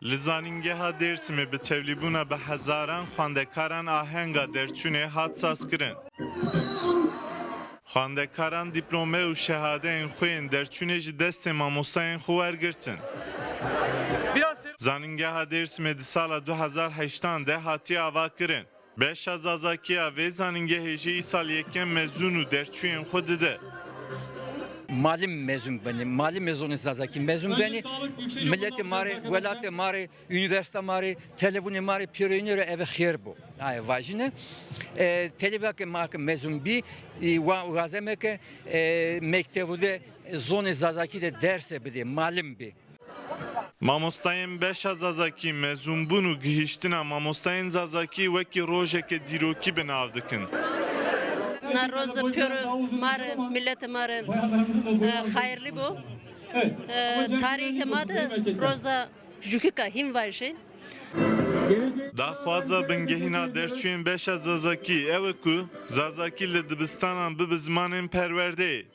Li Zanîngeha Dêrsimê bi tevlîbûna bi hezaran xwendekaran ahenga derçûnê hat sazkirin. Xwendekaran dîplome û şehadeyên xwe yên derçûnê ji destên mamostayên xwe wergirtin. Zanîngeha Dêrsimê di sala du hezar heştan de hatiye avakirin. Beşa Zazakî ya vê zanîngehê jî îsal yekem mezûn û derçûyên xwe dide. Ma li mezûn benê, ma li mezûnê Zazakî mezûn benê, miletê ma rê, welatê ma rê, unîversîta ma rê, televûnê ma rê pîroyînê rê ev xêr bo. Aye vajîn e. Televîyake ma ke mezûn bî wa wazeme ke mektevû de zonê Zazakî de derse bidê, malim bê. Mamostayên beşa Zazakî mezûnbûn û gihîştina mamostayên Zazakî wekî rojeke dîrokî bi nav dikin. Na roz pir ma re, mîletê ma re xayirlî bû. Tarîxê ma de roza jûkika hîn vajî. Daxwaza bingehîna derçûyên beşa Zazakî ew e ku Zazakî li dibistanan bi bi zimanên perwerdeyê.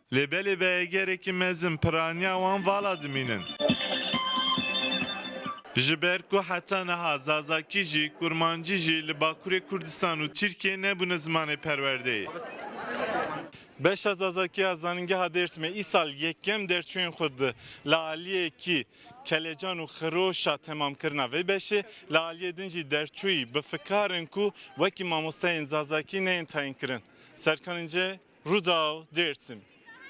Lê belê veyegerekî mezin piraniya wan vala dimînin. Ji ber ku heta niha Zazakî jî, Kurmancî jî li Bakurê Kurdistan û Tirkiyê nebûne zimanê perwerdeyê. Beşa Zazakî ya Zanîngeha Dêrsimê îsal yekem derçûyên xwe di li aliyekî Kelecan û xiroşa temamkirina vê beşê li aliyê din jî derçûyî bi fikar in ku wekî mamosteyên Zazakî neyên tayînkirin. Serkan Înce, Rûdaw, Dêrsim.